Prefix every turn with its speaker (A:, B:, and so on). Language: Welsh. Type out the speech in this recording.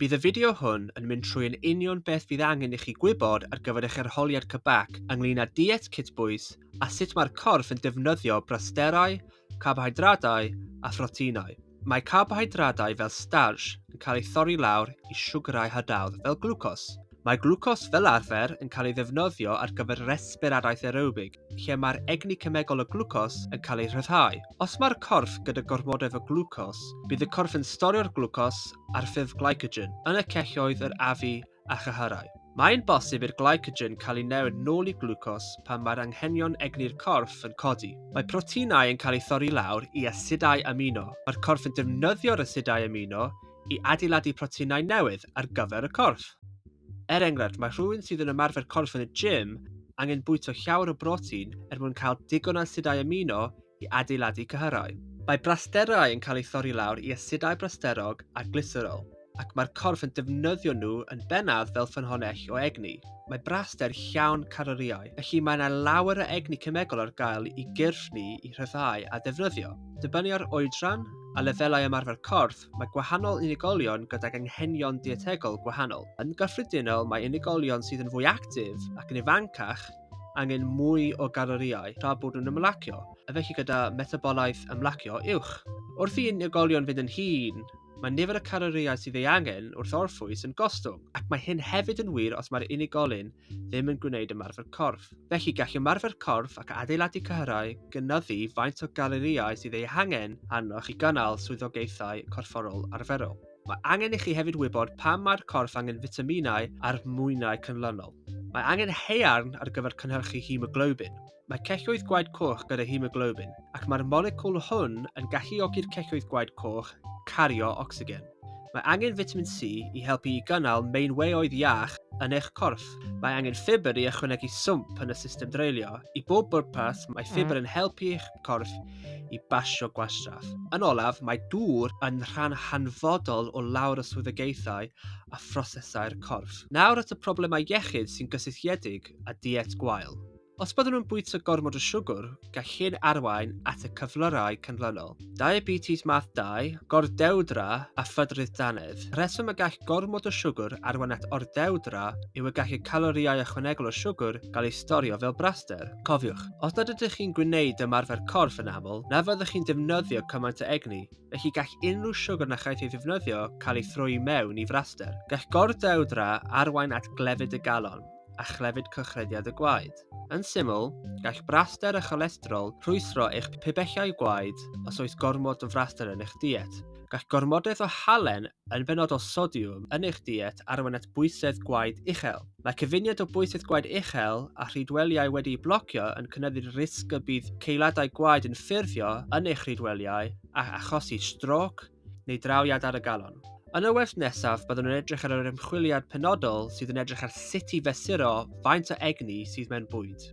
A: Bydd y fideo hwn yn mynd trwy yn union beth fydd angen i chi gwybod ar gyfer eich arholiad Quebec ynglyn â diet cytbwys a sut mae'r corff yn defnyddio brasterau, carbohydradau a phroteinau. Mae carbohydradau fel starch yn cael eu thorri lawr i siwgrau hadawdd fel glwcos. Mae glwcos fel arfer yn cael ei ddefnyddio ar gyfer resbiradaeth aerobig, lle mae'r egni cemegol o glwcos yn cael ei rhyddhau. Os mae'r corff gyda gormodoedd o glwcos, bydd y corff yn storio'r glwcos ar ffurf glycogen yn y celloedd yr afu a chyhyrau. Mae'n bosib i'r glycogen cael ei newid nôl i glwcos pan mae'r anghenion egni'r corff yn codi. Mae proteinau yn cael eu thorri lawr i asidau amino. Mae'r corff yn defnyddio'r asidau amino i adeiladu proteinau newydd ar gyfer y corff. Er enghraifft, mae rhywun sydd yn ymarfer corff yn y gym angen bwyta llawer o brotein er mwyn cael digon o asidau amino i adeiladu cyhyrau. Mae brasterau yn cael eu thorri lawr i asidau brasterog a glyserol, ac mae'r corff yn defnyddio nhw yn bennaf fel ffynhonnell o egni. Mae braster llawn calorïau, felly mae yna lawer o egni cemegol ar gael i gyrff ni i rhyddhau a defnyddio. Dibynnu ar oedran a lefelau ymarfer corff, mae gwahanol unigolion gydag anghenion dietegol gwahanol. Yn gyffredinol, mae unigolion sydd yn fwy actif ac yn ifancach angen mwy o galorïau tra bod nhw'n ymlacio, a felly gyda metabolaeth ymlacio uwch. Wrth i unigolion fynd yn hŷn, mae nifer y calorïau sydd ei angen wrth orffwys yn gostwng, ac mae hyn hefyd yn wir os mae'r unigolyn ddim yn gwneud ymarfer corff. Felly, gall ymarfer corff ac adeiladu cyhyrau gynyddu faint o galorïau sydd eu hangen arnoch i gynnal swyddogaethau corfforol arferol. Mae angen i chi hefyd wybod pam mae'r corff angen fitaminau a'r mwynau cynlynol. Mae angen haearn ar gyfer cynhyrchu hemoglobin. Mae celloedd gwaed coch gyda hemoglobin, ac mae'r moleciwl hwn yn galluogi'r celloedd gwaed coch cario ocsigen. Mae angen fitamin C i helpu i gynnal meinweoedd iach yn eich corff. Mae angen ffibr i ychwanegu swmp yn y system dreulio. I bob bwrpas, mae ffibr yn helpu eich corff i basio gwastraff. Yn olaf, mae dŵr yn rhan hanfodol o lawr y swyddogaethau a phrosesau'r corff. Nawr at y problemau iechyd sy'n gysylltiedig â diet gwael. Os byddwn yn bwyta gormod o siwgr, gall hyn arwain at y cyflyrau canlynol, diabetes math 2, gordewdra a phydrudd dannedd. Y rheswm y gall gormod o siwgr arwain at ordewdra yw y gall y calorïau ychwanegol o siwgr gael eu storio fel braster. Cofiwch, os nad ydych chi'n gwneud ymarfer corff yn aml, na fyddwch chi'n defnyddio cymaint o egni, felly gall unrhyw siwgr na chaiff ei ddefnyddio cael ei throi i mewn i fraster. Gall gordewdra arwain at glefyd y galon. a chlefyd cylchrediad y gwaed. Yn syml, gall braster a cholesterol rhwystro eich pibellau gwaed os oes gormod o fraster yn eich diet. Gall gormodaeth o halen, yn benodol sodiwm, yn eich diet arwain at bwysedd gwaed uchel. Mae cyfuniad o bwysedd gwaed uchel a rhydweliau wedi'u blocio yn cynyddu'r risg y bydd ceuladau gwaed yn ffurfio yn eich rhydweliau a achosi strôc, neu draw i adar y galon. Yn y wers nesaf, byddwn yn edrych ar yr ymchwiliad penodol sydd yn edrych ar sut i fesuro faint o egni sydd mewn bwyd.